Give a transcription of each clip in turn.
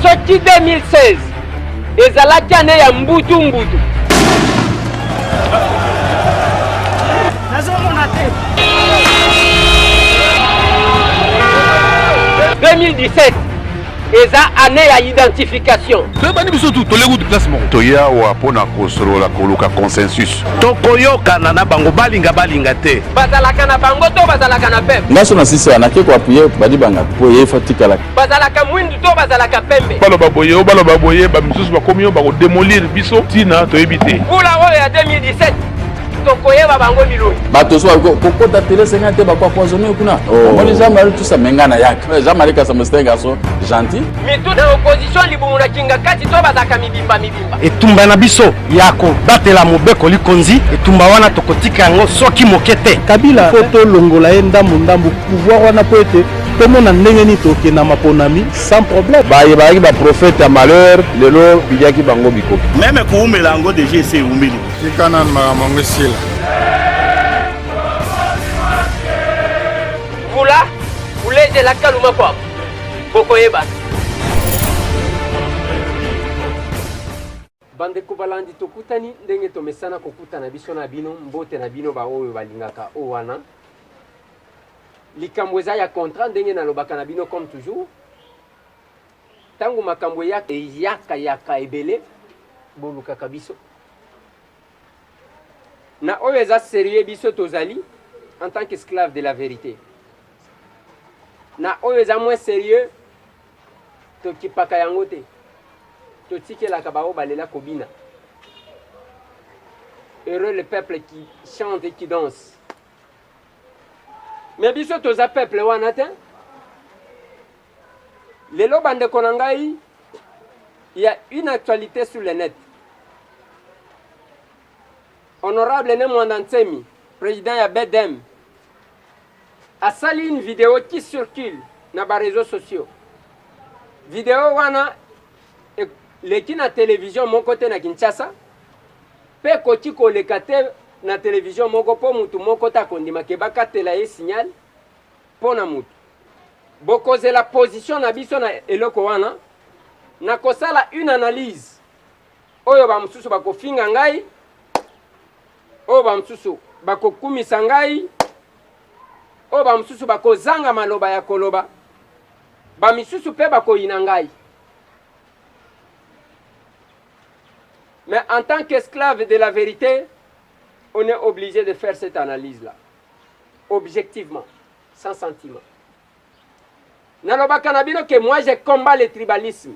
Soki 2016 ezalaki ane ya mbutu mbutu nazomona te 2017 eza ane ya identification toyebani biso tu toleki kutu place moko toyawa mpo na kosolola koluka consensus tokoyokana na bango balinga balinga te bazalaka na bango to bazalaka na peuple ngaso na sisi wana ke koapuye badibanga mpo ye fatikala bazalaka mwindu to bazalaka pembe baloba boye o baloba boye bamisusu bakomi yo bakodemolir biso ntina toyebi te mbula oyo ya 2017 tokoyeba bango biloi bato so kokota tele senga te bakoapoisone kuna oh. omoni jean marie tusa menga na yaka eh, jean marie kasamba sete garçon gentil mitu na opposition libumu na kinga kati to bazalaka mibimba mibimba etumba na biso ya kobatela mobeko likonzi etumba wana tokotika yango soki moke te kabila po tolongola ye ndambu ndambu pouvoir wana po ete tomona ndenge nini tokende na maponami sans problème baye bayaki baprofete ya malheur lelo biliaki bango bikoki meme koumela yango deja ese eumeli tika nanu makambo yango esila vula uleje la kaluma kwabo bokoyebana. Bandeko balandi, tokutani ndenge tomesana kokutana biso na bino. Mbote na bino baoyo balingaka o wana likambo eza ya contrat, ndenge nalobaka na bino comme toujours, ntango makambo eyaka eyaka yaka ebele, bolukaka biso Na oyo eza serieux biso tozali en tant qu'esclave de la verite. Na oyo eza moins serieux tokipaka yango te. Totikelaka baoyo balela kobina. Heureux le peuple qui chante et qui danse. Mais biso toza peuple wana te. Lelo ba ndeko na ngai il ya une actualite sur le net. Honorable Ne Mwanda Nsemi, président ya BDM, asali une vidéo qui circule na ba réseaux sociaux. Vidéo wana leki na televizio moko te na Kinshasa mpe ekoki koleka te na televizio moko mpo motu moko te akondima ke bakatela ye signal Pona mutu. Bokozela position na biso na eloko wana. Nakosala une analyse oyo ba mususu bakofinga ngai, oyo ba mususu bakokumisa ngai, oyo ba mususu bakozanga maloba ya koloba, ba misusu pe bakoyina ngai. Mais en tant qu'esclave de la verite, on est obligé de faire cette analyse-là. objectivement sans sentiment nalobaka na bino ke moi je combat le tribalisme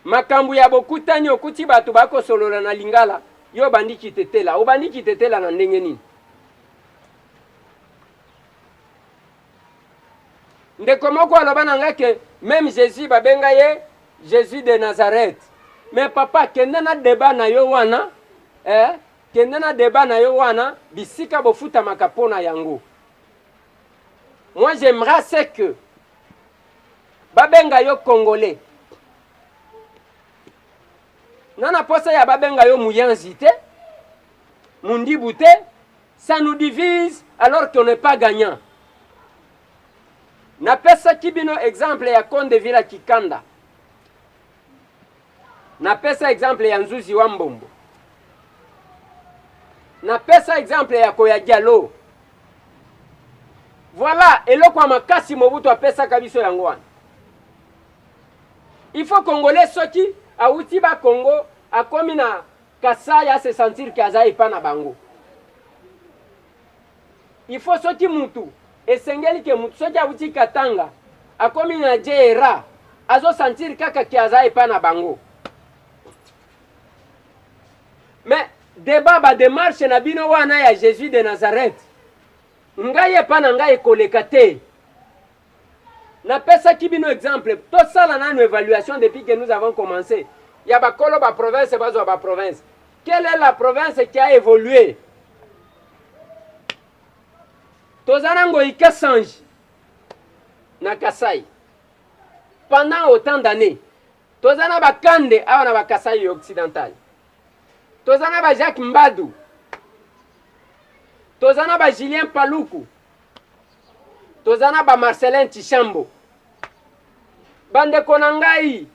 makambo ya bokutani okuti bato bakosolola na lingala yo obandi kitetela obandi kitetela na ndenge nini ndeko moko aloba na ngai ke meme jésus babenga ye jésus de nazareth me papa kenda na deba na yo wana eh? Kende na debat na yo wana bisika bofutamaka pona yango. Moi j'aimerais ce que babenga yo congolais. Nana posa ya babenga yo muyanzi te, mundibu te, ça nous divise alors qu'on n'est pas gagnant. Napesaki bino exemple ya Konde Vila Kikanda. Napesa exemple ya Nzuzi wa Mbombo. Napesa exemple ya Koya Diallo. Voilà eloko ya makasi Mobutu apesaka biso yango wana. Il faut Congolais soki awuti ba Congo akomi na Kasai a se sentir que aza epa na bango. Il faut soki mutu esengeli ke mutu soki awuti Katanga akomi na JRA azo sentir kaka ke aza epa na bango. Mais debat ba demarche na bino wana ya Jesus de Nazareth ngai epa na ngai ekoleka te. Na pesaki bino exemple, to sala nanu evaluation depuis que nous avons commence ya ba kolo ba province ba zwa ba province. Quelle est la province qui a evolue? Toza na Ngoyi Kasanji na Kasai pendant autant d'années toza na bakande awa na bakasai occidental toza na ba jacques mbadu toza na ba julien paluku toza na ba Marcelin Tshishambo bandeko na ngai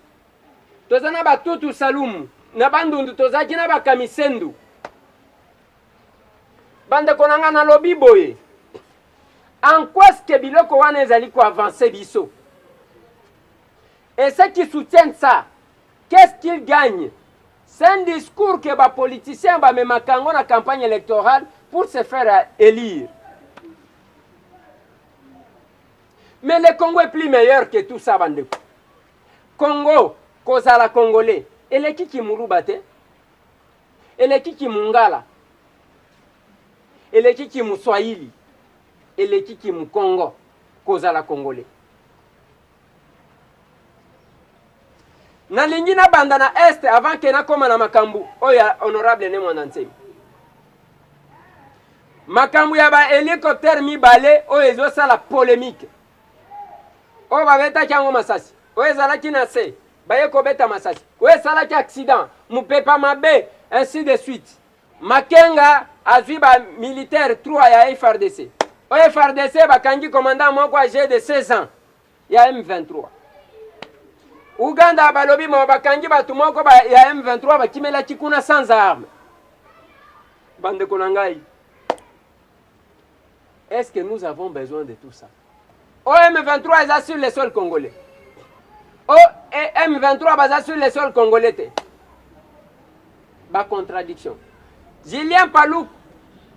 toza na ba Tutu Salumu na Bandundu tozalaki na ba Kamisendu bandeko na ngai nalobi boye en quoi ce que biloko wana ezali ko avancer biso Et ceux qui soutiennent ça qu'est ce qu'ils gagnent? C'est un discours que ba politiciens ba memaka yango na campagne electorale pour se faire elire. Mais le Congo est plus meilleur que tout ça bandeko. Congo kozala congolais eleki kimuluba te eleki kimungala eleki kimuswahili eleki kimukongo kozala congolais nalingi nabanda na este avant ke nakoma na makambo oyo ya honorable ne mwana nsemi makambo ya bahelicoptere mibale oyo ezosala polemike oyo babetaki yango masasi oyo ezalaki na se baye kobeta masasi oyo esalaki accident mopepa mabe ainsi de suite Makenga azwi ba militaires trois ya FARDC. O FARDC bakangi commandant moko age de 16 ans ya M23. Uganda balobi mo bakangi bato moko ba, ya M23 bakimelaki kuna sans arme. Bandeko na ngai, Est ce que nous avons besoin de tout ça? OM23 eza sur le sol congolais. OM23 baza sur le sol congolais te. Ba contradiction. Julien Palou,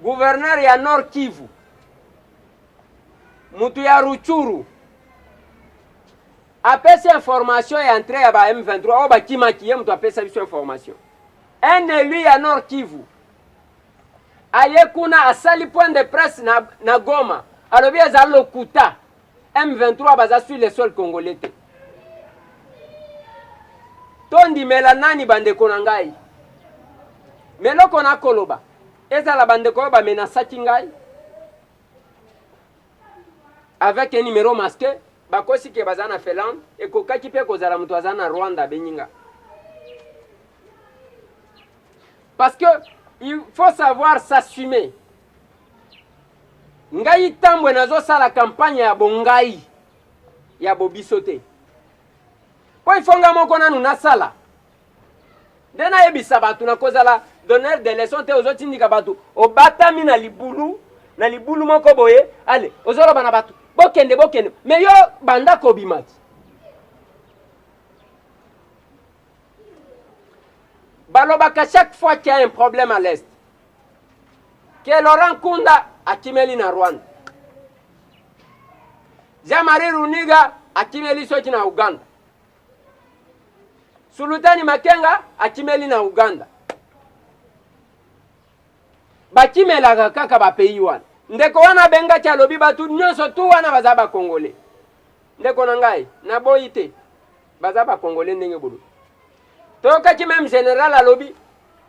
gouverneur ya Nord Kivu. Mutu ya Ruchuru. apesi information ya entrée ya ba M23 oyo bakimaki ye moto apesa biso information un élu ya Nord Kivu aye kuna asali point de presse na, na Goma alobi eza lokuta M23 baza sur le sol congolais te. Tondimela nani bandeko na ngai? Meloko na koloba ezala bandeko oyo bamenasaki ngai avec un numéro masqué bakosi ke baza na Finlande ekokaki mpe kozala moto aza na Rwanda abenyi ngai Parce que il faut savoir s'assumer. Ngai tambwe nazo sala campagne ya bongai ya bobiso te. Po il faut nga moko nanu nasala. Nde nayebisa bato nakozala donneur de leçon te ozotindika bato obatami na libulu na libulu moko boye ale ozoloba na bato bokende bokende me yo banda kobimaki Balobaka chaque fois qu'il y a un problème à l'Est. Que Laurent Kunda akimeli na Rwanda. Jean-Marie Runiga akimeli soki na Uganda. Sulutani Makenga akimeli na Uganda. Bakimelaka kaka ba pays wana. Ndeko wana bengaki alobi batu nyonso tu wana baza ba Congolais. Ndeko na ngai, naboyi te. baza ba congolais ndenge bolobi toyokaki meme general alobi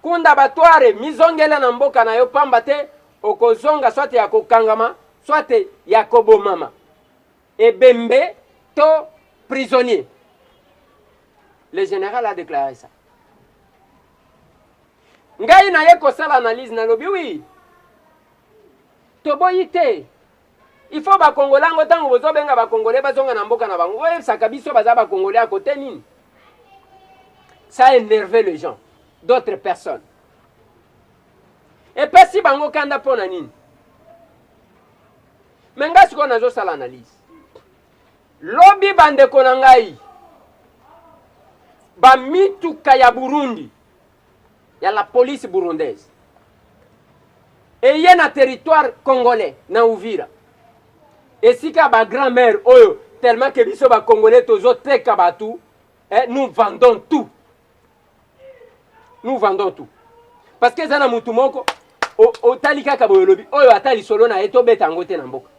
kunda batware mizongela na mboka na yo pamba te okozonga swate ya kokangama swate ya kobomama ebembe to prisonnier le general a déclaré ça ngai naye kosala analyse nalobi wi toboyi te Il faut ba congolais yango tango bozo benga ba congolais bazonga na mboka na bango boyebisaka biso baza ba congolais ya kote nini? Ça enerve les gens d'autres personnes epesi bango kanda mpo na nini? Me ngai sikoyo nazosala analyse lobi bandeko na ngai bamituka ya Burundi ya la police burundaise eye na territoire congolais na Uvira esika ba grand mère oyo tellement que biso ba congolais tozoteka bato eh, nous vendons tout nous vendons tout parce que eza na mutu moko otali kaka boye olobi oyo ata lisolo na ye tobeta yango te na mboka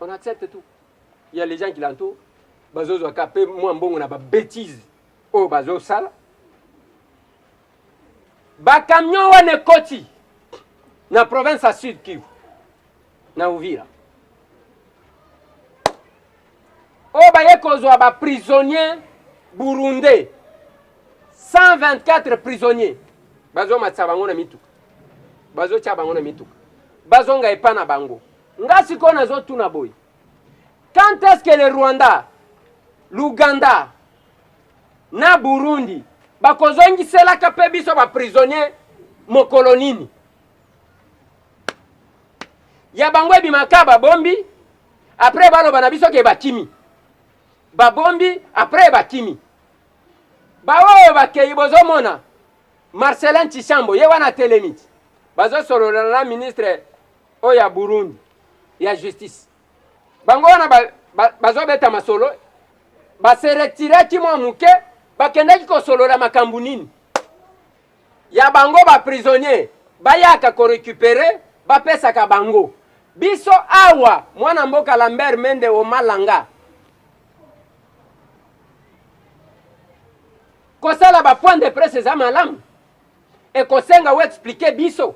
on accepte tout ya les gens qui l'entourent bazozwa ka pe mwa mbongo na ba betises oyo bazosala bacamion wana ekoti na province ya sud kivu na uvira oyo baye kozwa baprisonnier burundais 124 prisonnier bazomatisa bango na mituka bazotya bango na mituka bazonga epa na bango Nga sikoyo nazo tuna boye quand est-ce que le Rwanda, l'Ouganda na Burundi bakozongiselaka pe biso ba prisonniers mokolo nini? Ya bango ebimaka babombi après baloba na biso ke bakimi babombi après bakimi baoyo bakei bozomona Marcelin Tshisambo ye wana atelemi bazosolola na ministre oyo ya Burundi ya justice bango wana bazobeta masolo baseretiraki mwa moke bakendaki kosolola makambo nini ya bango baprisonnier bayaka korecupere bapesaka bango biso awa mwana mboka lambert mende omalanga kosala bapoint de presse eza malamu ekosenga oexplike biso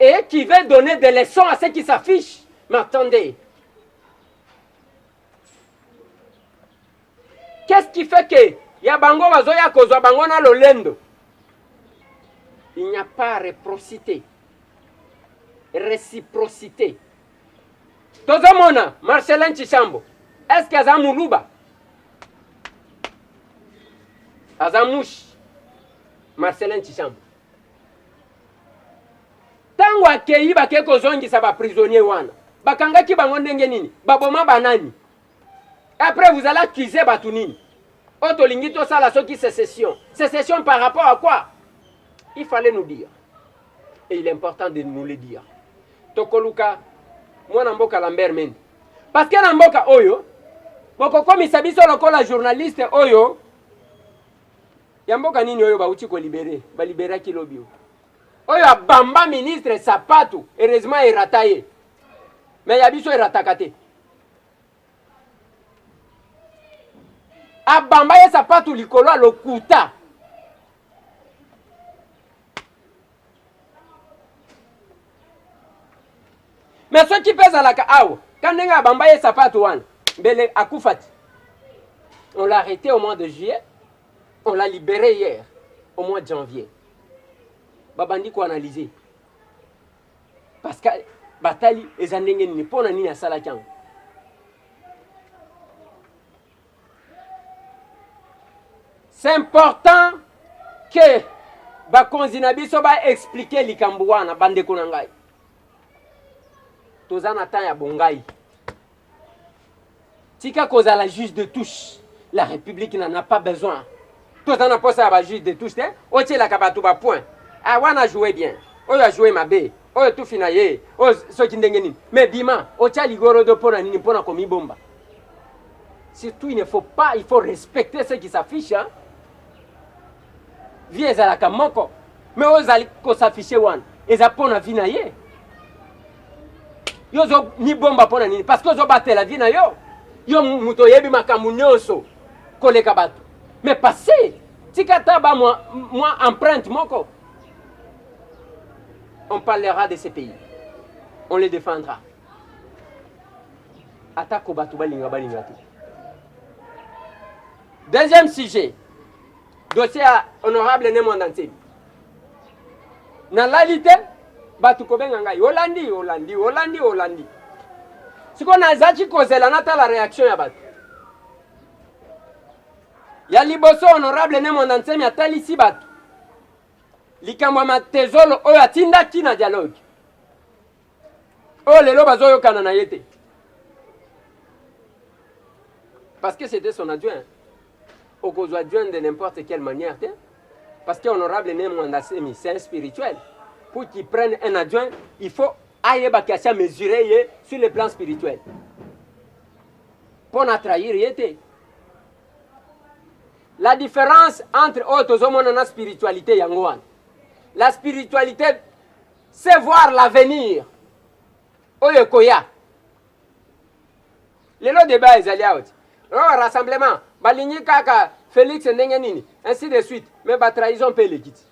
Et qui veut donner des leçons à ceux qui s'affichent M'attendez. Qu'est-ce qui fait que ya bango bazoya kozwa bango na lolendo Il n'y a pas réciprocité. Réciprocité. Tozomona Marcelin Chishambo. Est-ce que aza muluba? Aza mushi. Marcelin Chishambo. Tango akeyi bakei kozongisa ba prisonniers wana bakangaki bango ndenge nini? Baboma ba nani? Après vous allez accuser batu nini? Oyo tolingi tosala soki secession. Secession par rapport à quoi? Il fallait nous dire. Et il est important de nous le dire. Tokoluka mwana mboka Lambert Mende. Parce que na mboka oyo bokokomisa biso lokola journaliste oyo Ya mboka nini oyo bauti ko libere? Ba liberaki lobi oyo. Oyo abamba ministre sapatu, heureusement erata ye. Mais ya biso erataka te. abamba ye sapatu likolo ya lokuta me soki mpe ezalaka awa ka ndenge abamba ye sapatu wana mbele akufa ti on l'a arrêté au mois de juillet On l'a libere hier au mois de janvier. Babandi ko analyser. Parce que batali eza ndenge nini pona nini asalaki yango. C'est important que bakonzi na biso ba expliquer likambo wana bandeko na ngai. Toza na temps ya bongai. Tika kozala juge de touche. La République n'en a pas besoin. Toza na posa ya ba juge de touche te. Otielaka bato ba point. Ah wana joue bien. Oyo a joue mabe. Oyo tufi na ye. Oyo soki ndenge nini. Mais bima otia ligorodo mpo na nini? Mpo na komibomba. Surtout il ne faut pas, il faut respecter ceux qui s'affichent. Hein? Vie ezalaka moko. Mais ozali ko s'afficher wana. Eza mpo na vie na ye. yo ozo mibomba mpo na nini parce que ozobatela vie na yo yo moto oyebi makambo nyonso koleka bato mais passé tika ata ba mwa, mwa empreinte moko on parlera de ce pays on le défendra atako bato balinga balinga te deuxième sujet dossier ya honorable ne mwanda nsemi nalali te bato kobenga ngai olandi olandi olandi olandi siko nazalaki kozela natala reaction ya bato ya liboso honorable ne mwanda nsemi atalisi bato likambo ya matezolo oyo atindaki na dialogue oyo lelo bazoyokana na ye te parce que c'était son adjoint okozwa adjoint de n'importe quelle manière te parce que honorable ne mwanda semi c'est un spirituel pour qu'il prenne un adjoint il faut ayeba kasi amesure ye sur le plan spirituel mpo na trahir ye te la différence entre oyo tozomona na spiritualité yango wana la spiritualité se voir l'avenir oyo ekoya lelo deba ezali awa ti oh, rassemblement balingi kaka felix ndenge nini ainsi de suite mais batrahison mpe eleki ti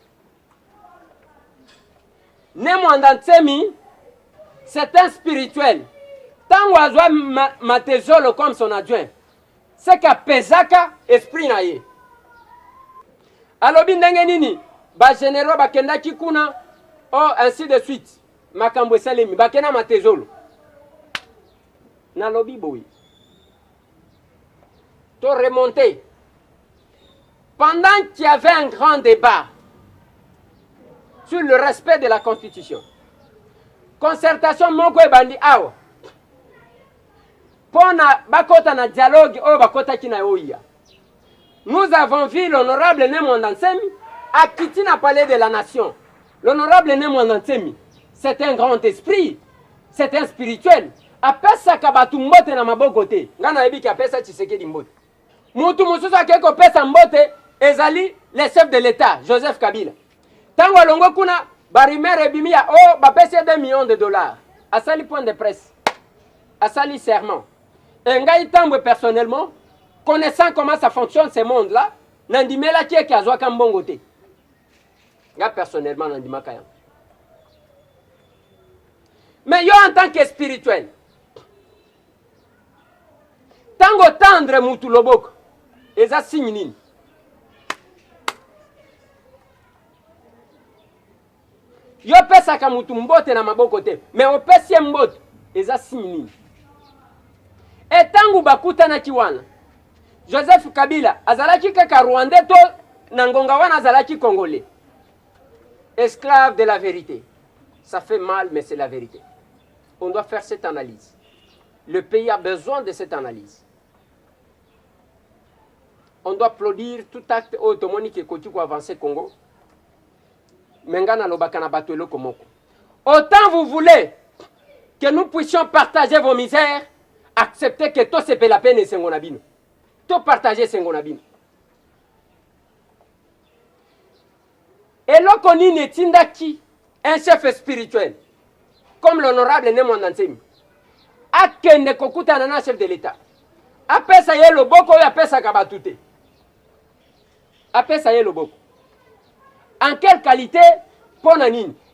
ne mwanda nsemi c'est un spirituel ntango azwa matezolo comme son adjoint ce que apesaka esprit na ye alobi ndenge nini ba generaux bakendaki kuna oh, ainsi de suite makambo esalemi bakenda matezolo nalobi boye to remonte pendant qu'il y avait un grand débat sur le respect de la constitution concertation moko ebandi awa mpo na bakota na dialogue oyo bakotaki na OIA. Nous avons vu l'honorable Ne Mwanda Nsemi akiti na palais de la nation. L'honorable Ne Mwanda Nsemi, c'est un grand esprit, c'est un spirituel. Apesaka bato mbote na maboko te. Ngai nayebi ki apesa Tshisekedi mbote. Mutu mosusu akei kopesa mbote ezali le chef de l'État, Joseph Kabila. Tango alongwe kuna ba rumeur ebimi ya o oh, bapesi ye 2 millions de dollars asali point de presse asali serment e ngai tambwe personnellement connaissant comment ça fonctionne ce monde là nandimelaki eke azwaka mbongo te nga personnellement nandimaka yango mais yo en tant que spirituel Tango otendre mutu loboko eza signe nini? Yo pesaka mutu mbote na maboko te, me opesi ye mbote eza signe nini? E tango bakutanaki wana Joseph Kabila azalaki kaka Rwandais to na ngonga wana azalaki Congolais? Esclave de la verite. Ça fait mal mais c'est la verite. On doit faire cette analyse. Le pays a besoin de cette analyse. On doit applaudir tout acte oyo tomoni ke ekoki ko avancer Congo. Mais nga nalobaka na bato eloko moko. Autant vous voulez que nous puissions partager vos misères, acceptez que tosepela mpe na esengo na bino. Topartage esengo na bino. Eloko nini etindaki un chef spirituel comme l'honorable Ne Mwanda Nsemi akende kokutana na chef de l'Etat, apesa ye loboko oyo apesaka bato te, apesa ye loboko en quelle qualite? Mpo na nini?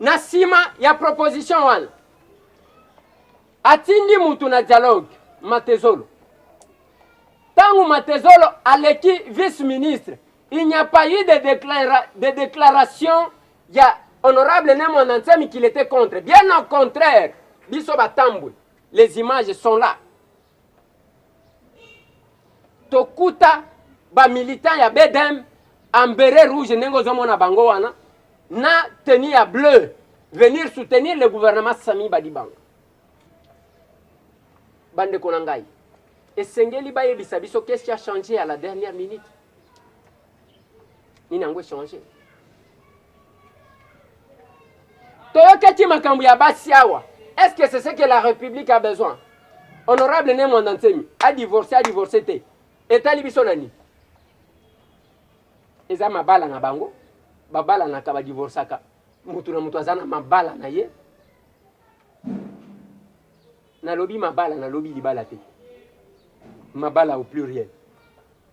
Na nsima ya proposition wana atindi mutu na dialogue Matezolo. Ntango Matezolo aleki vice ministre, il n'y a pas eu de, déclara de déclaration ya honorable Ne Mwana Nsemi qu'il était contre. Bien au contraire, biso batambwe, les images sont là. tokuta ba militants ya BDM en beret rouge ndenge ozomona bango wana na tenue ya bleu venir soutenir le gouvernement Sami Badibanga. Bandeko na ngai, esengeli bayebisa biso qu'est-ce qui a changé à la dernière minute. Nini yango echange? toyokaki makambo ya basi awa est ce que c'est ce que la république a besoin honorable ne mwanda nsemi adivorce adivorce te etali biso na nini eza mabala na bango babalanaka badivorsaka motu na motu aza na mabala na ye nalobi mabala nalobi libala te mabala au pluriel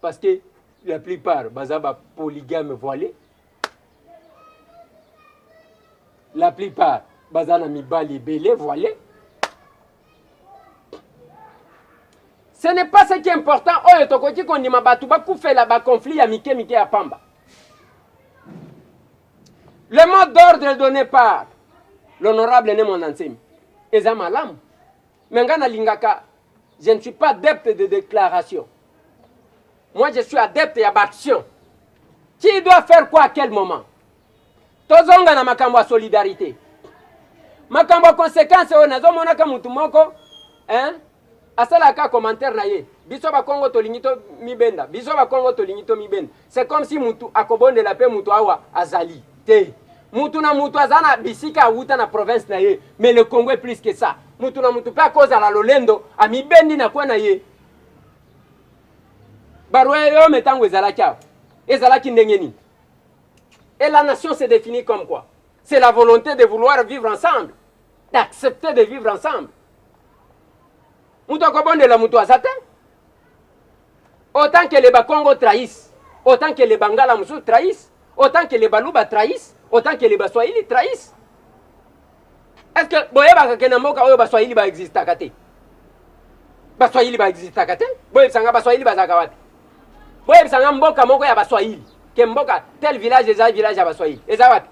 parce que la plupart baza ba polygame voilé la plupart baza na mibali ebele voile ce n'est pas ce qui est important oyo tokoki kondima bato bakufela baconflit ya mike mike ya pamba le mot d'ordre donné par l'honorable ne mwana nsemi eza malamu me ngai nalingaka je ne suis pas depte de déclaration Moi je suis adepte ya ba action. Qui doit faire quoi à quel moment? Tozonga na makambo ya solidarite. Makambo ya consequence oyo nazomonaka mutu moko hein? asalaka commentaire na ye biso bakongo tolingi tomibenda biso bakongo tolingi tomibenda c'est comme si mutu akobondela mpe mutu awa azali te mutu na mutu aza na bisika awuta na province na ye mais le congo est plus que ça mutu na mutu mpe akozala lolendo amibendi na kwe na ye baroyaume ntango ezalaki awa ezalaki ndenge nini et la nation se définit comme quoi c'est la volonté de vouloir vivre ensemble d'accepter de vivre ensemble moto akobondela moto aza te autant que les bakongo trahissent autant que les bangala mosusu trahissent autant que les baluba trahissent autant que les baswahili trahissent est ce que boyebaka ke na mboka oyo baswahili baexistaka te baswahili baexistaka te boyebisa nga baswahili bazalaka wapi boyebisa nga mboka moko ya baswahili ke mboka tel village eza village ya baswahili eza wapi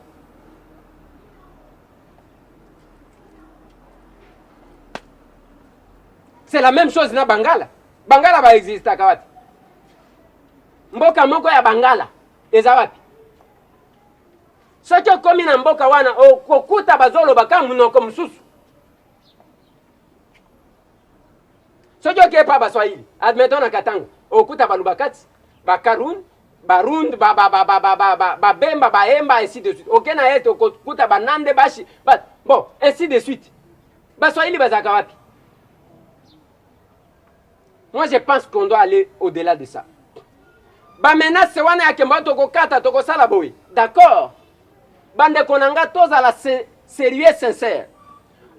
c'est la même chose na bangala bangala baexistaka wapi mboka moko ya bangala eza wapi Soki okomi na mboka wana okokuta bazoloba ka munoko mosusu. Soki okei pa baswahili, admettons na Katanga, okuta baluba kati, bakarun, barund, babemba, baemba, ainsi de suite. Oke na est okokuta banande, bashi, ba, bon, ainsi de suite. Baswahili bazalaka wapi? Moi je pense qu'on doit aller au-delà de ça. Ba menaces wana ya kemba tokokata tokosala boye. D'accord. Bandeko na nga tozala serieux sincère.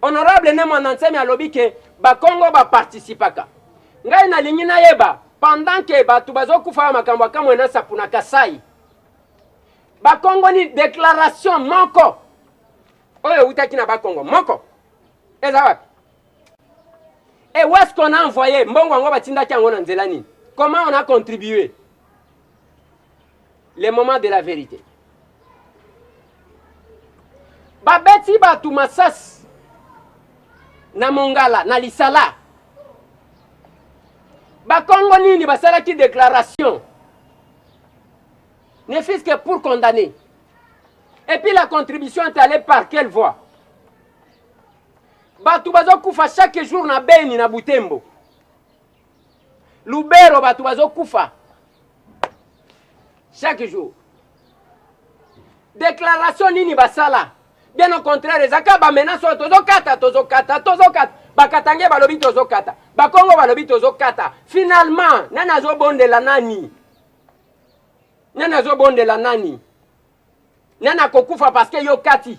Honorable ne mwana nsemi alobi ke bakongo baparticipaka. Ngai nalingi nayeba pendant ke bato bazokufa ya makambo ya kamwe na sapu na Kasai bakongo ni declaration moko oyo eutaki na bakongo moko eza wapi? Et où est-ce qu'on a envoyé mbongo yango batindaki yango na nzela nini? Comment on a contribué? Le moment de la vérité. Babeti batu masasi na Mongala na Lisala. Bakongo nini basalaki déclaration ne fût-ce que pour condamner. Et puis la contribution est allée par quelle voie? Bato bazokufa chaque jour na Beni na Butembo. Lubero bato bazokufa chaque jour. Déclaration nini basala? Bien au contraire, ezaka ba menace oyo tozokata tozokata tozokata bakatange balobi tozokata bakongo balobi tozokata finalement nani azobondela nani nani azobondela nani nani akokufa parce que yo kati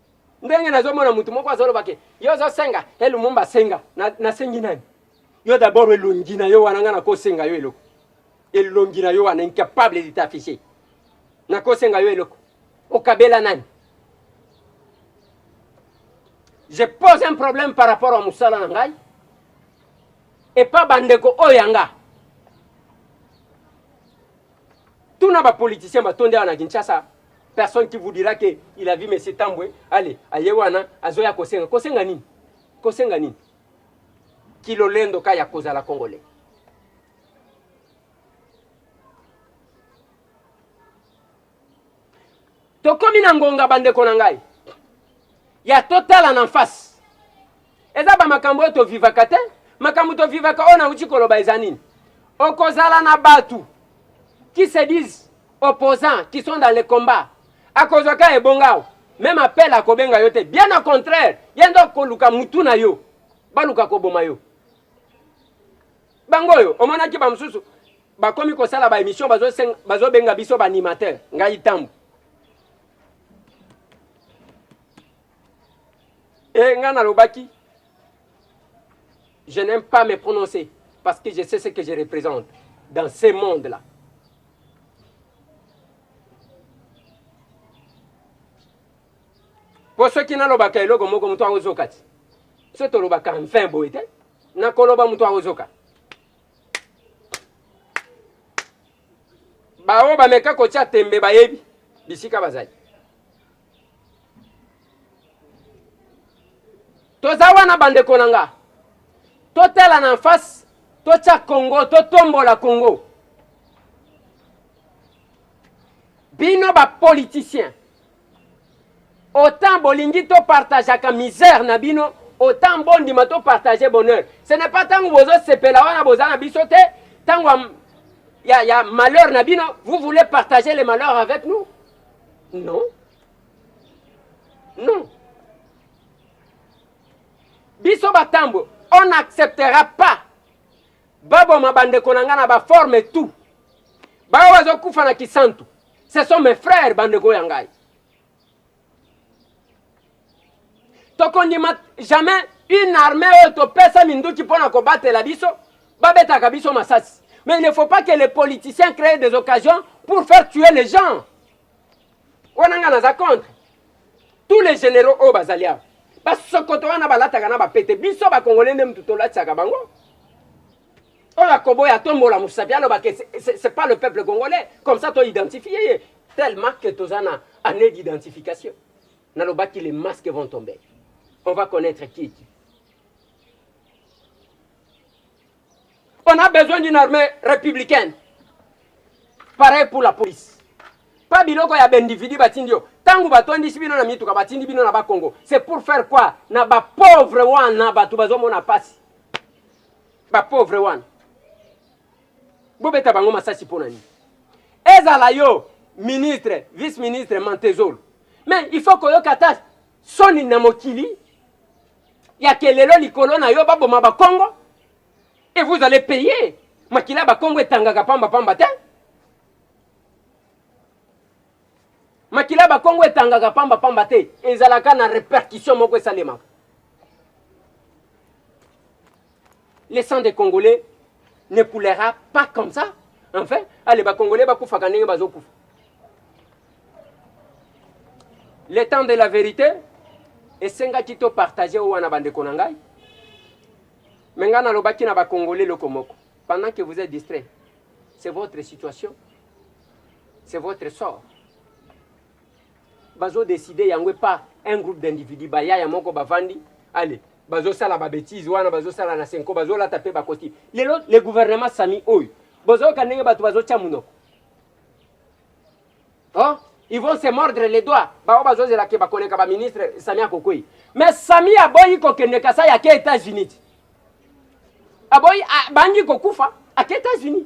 Ndenge nazo mona mutu moko azo loba ke yo ozo senga e Lumumba senga na, na sengi nani yo d'abord elongi na yo wana nga nako senga yo eloko elongi na yo wana incapable de t'afficher nako senga yo eloko okabela nani je pose un problème par rapport à musala na ngai epa bandeko oyo ya nga Tuna ba politiciens ba tonde na Kinshasa, personne qui vous dira que il a vu monsieur Tambwe, allez, aye wana azoya kosenga. Kosenga nini? Kosenga nini? Kilolendo ka ya kozala congolais. Tokomi na ngonga bandeko na ngai ya totala na face. Eza ba makambo oyo tovivaka te, makambo tovivaka oyo nauti koloba eza nini? Okozala na batu qui se disent opposants qui sont dans le combat, akozwa ka ebonga awa meme appel akobenga yo te, bien au contraire ye nde akoluka mutu na yo, baluka koboma yo. Bango oyo omonaki ba mosusu Bakomi kosala ba emission bazo senga bazo benga biso ba animateur ngai tambu. Et ngai nalobaki je n'aime pas me prononcer parce que je sais ce que je représente dans ce monde là. Po soki nalobaka eloko moko moto akozoka ti. So tolobaka enfin boye te. Nakoloba moto akozoka. baoyo bameka kotya tembe bayebi bisika bazali. Toza wana bandeko na nga, totala na face, totya Congo, totombola Congo. Bino ba politiciens Autant bolingi to partageaka misère na bino, autant bondima to partager bonheur. Ce n'est pas tango bozo sepela wana boza na biso te, tango ya, ya, ya malheur na bino, vous voulez partager les malheurs avec nous? Non. Non. Biso batambo, on n'acceptera pas baboma bandeko na nga na baforme tout bayo bazokufa na kisantu ce sont mes frères bandeko ya ngai tokondima jamais une armée oyo topesa minduki mpo na kobatela biso babetaka biso masasi mais il ne faut pas que les politiciens créent des occasions pour faire tuer les gens wana ngai naza contre tous les généraux oyo bazali awa basokoto wana balataka na bapete biso bakongole nde motu tolatisaka bango oyo akoboya atombola mosapi aloba ke c'est pas le peuple congolais comme ça to identifie ye tellement que toza na année d'identification nalobaki les masques vont tomber on va connaître qui est qui on a besoin d'une armée républicaine pareil pour la police pa biloko ya baindividu batindi yo ntango batondisi bino na mituka batindi bino na bakongo c'est pour faire quoi na bapauvre wana bato bazomona mpasi ba pauvre wana bobeta bango masasi mpo na nini ezala yo ministre vice ministre mantezolo mais il faut koyoka ata soni na mokili ya kelelo likolo na yo baboma bakongo et vous allez payer makila bakongo etangaka pamba pamba te Makila ya bakongo etangaka pamba pamba te, ezalaka na repercussion moko esalemaka. Le sang des Congolais ne coulera pas comme ça. Enfin, allez, ba Congolais bakufaka ndenge bazokufa. Le temps de la vérité esengaki to partage oyo wana bandeko na ngai me ngai nalobaki na bacongolais loko moko pendant que vous êtes distrait c'est votre situation C'est votre sort. Bazo decider yango et pas un groupe d'individus. Ba yaya moko bavandi, allez, bazo sala ba bêtises wana, bazo sala na senko, bazo lata pe ba costume. Lelo le gouvernement Sami oyo, bozo ka ndenge bato bazo tia munoko. Hein? Ils vont se mordre les doigts. Bao bazo zela ke bakoneka ba ministre Sami akokoi. Mais Sami aboyi kokende Kasai ake États-Unis. Aboyi abangi kokufa ake États-Unis.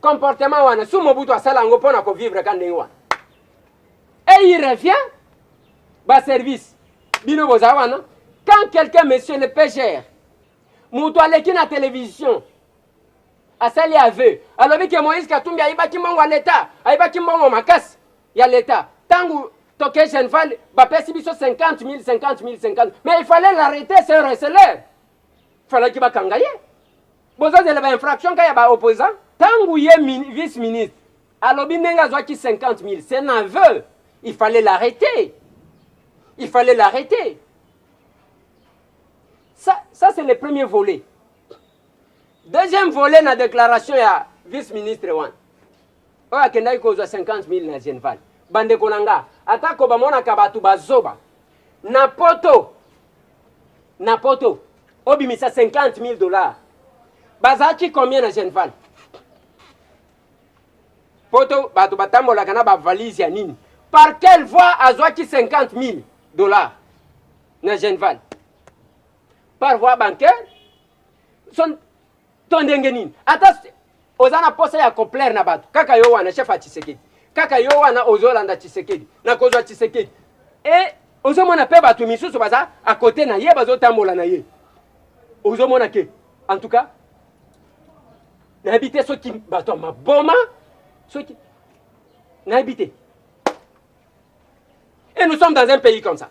Comportement wana sous Mobutu asala yango pona ko vivre ka ndenge wana. Et il revient ba service bino boza wana quand quelqu'un monsieur le PGR mutu aleki na télévision asali aveu alobi ke Moïse Katumbi ayibaki mbongo ya leta ayibaki mbongo makasi ya leta tangu toke Genval bapesi biso 50 000 50 000 50 mais il fallait l'arrêter c'est un receleur falaki bakanga ye bozozela ba infraction ka ya ba opposant tangu ye min, vice ministre alobi ndenge azwaki 50000 c'est nerveux il fallait l'arrêter il fallait l'arrêter ça, ça c'est le premier volet deuxième volet na déclaration ya vice ministre wana oyo akendaki kozwa 50000 na genval bandeko na nga atako bamonaka bato bazoba na poto na poto obimisa 50000 dollars bazalaki combien na genval poto bato batambolaka na bavalise ya nini par quelle voie azwaki 50000 dollars na genval par voie bancaire son To ndenge nini? Ata oza na posa ya koplaire na bato, kaka yo wana chef ya Tshisekedi, kaka yo wana ozolanda Tshisekedi na kozwa Tshisekedi e ozomona mpe bato misusu baza akote na ye bazotambola na ye, ozomona ke en tout cas nayebi te soki bato ya maboma soki nayebi te et nous sommes dans un pays comme ça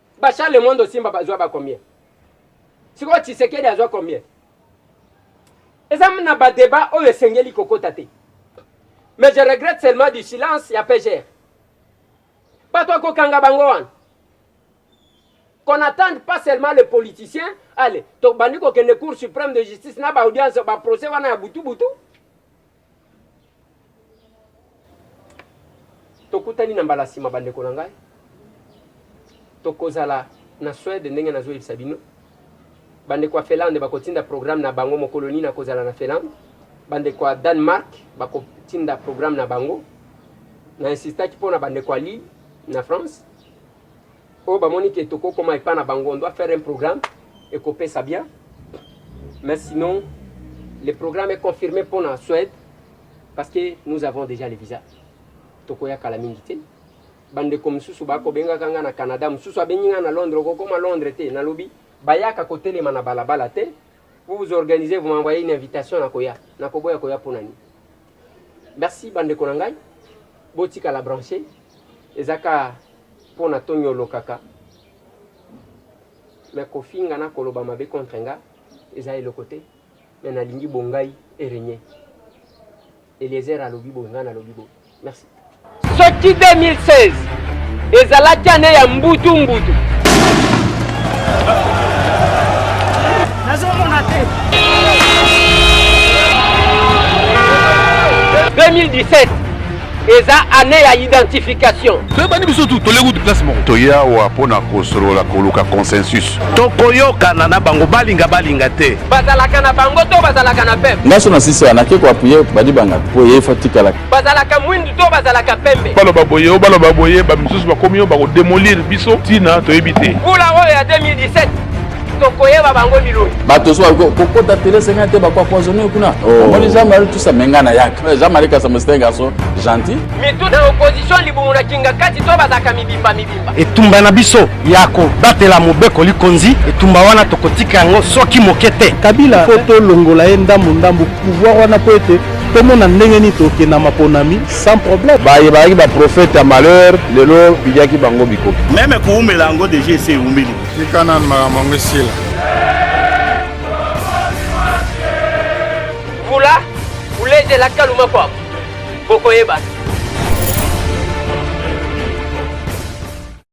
Ba Charles Mondo Simba bazwa ba combien? Sikoyo Tshisekedi azwa combien? Eza na ba debat oyo esengeli kokota te. Mais je regrette seulement du silence ya PGR. Bato ya kokanga bango wana. Qu'on n'attende pas seulement les politiciens, allez, tobandi kokende Cour suprême de justice na ba audience ba procès wana ya butu butu. Tokutani na mbala sima bandeko na ngai. Tokozala na Suède ndenge nazo yebisa bino. Bandeko ya Finlande bakotinda programme na bango mokolo nini akozala na Finlande. Bandeko ya Danemark bakotinda programme na bango. Na insistaki mpo na bandeko ya Lille na France. Oyo ba moni que toko koma epa na bango on doit faire un programme eko pesa bien mais sinon le programme est confirme pona Suède parce que nous avons dejà le visa toko ya kala mingi te ba ndeko misusu ba ko benga kanga na Canada misusu abengi nga na Londres oko koma Londres te na lobi ba yaka ko telema na bala bala te vous vous organisez vous m'envoyez une invitation na koya na koboya koya pona ni Merci ba ndeko na ngai botikala branche eza ka pona to nyolokaka mais kofinga na koloba mabe contre nga eza eloko te mais nalingi bongai eregne eliezer alobi boye nga nalobi boye merci Soki 2016 ezalaki ane ya mbutu mbutu nazomona te 2017 eza ane ya identification toyebani biso tu toleki uti place moko toyawa mpo na kosolola koluka consensus tokoyokana na bango balinga balinga te bazalaka na bango to bazalaka na peuple ngaso na sisi anake koapuye badibanga mpo ye fo atikala bazalaka mwindu to bazalaka pembe baloba boye o baloba boye bamisusu bakomi yo bakodemolir biso ntina toyebi te mbula oyo ya 2017 tokoyeba bango biloi bato so kokota tele senga te bakoapoisonne kuna oh. omoni jean marie tusa menga na yaka eh, jean marie kasama site garçon gentil mitu na opposition libumu na kinga kati to bazalaka mibimba mibimba etumba na biso ya kobatela mobeko likonzi etumba wana tokotika yango soki moke te kabila mpo tolongola ye ndambu ndambu pouvoir wana mpo ete tomona ndenge nini tokenda na maponami sans problème baye bayaki baprofete ya malheur lelo bidiaki bango bikoki meme koumela yango deja esi eumeli tika nanu makambo yango esila vula uleje la kaluma kwako Bokoyeba.